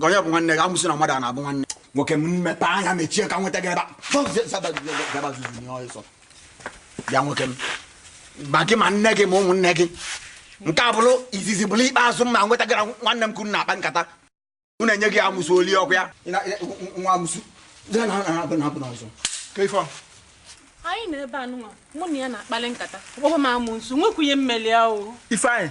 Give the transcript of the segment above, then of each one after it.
onye bụ nwanne gị amụsụ na mmadụ a na-abụ nwanne nwoke m m mepe anya mechie ka nweta gị ebe bịa nwoke m ma gị ma nne gị ma ụmụnne gị nke a bụrụ izizi bụrụ ikpeazụ m ma nweta gị na nwanne m ka unu na-akpa nkata m na-enye gị amụsụ oli ọkụ ya nwa amụsụ anyị na ebe anụnwa mụ na ya na-akpali nkata ọ kpọọ m amụsụ nwekwunye mmeli ahụ ifeanyị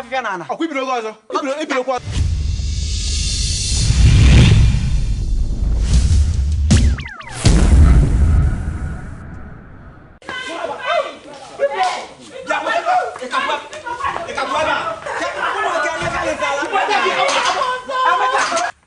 afịfịa na ala ọkwa i bidokwa ọzọ i bidokwa ọzọ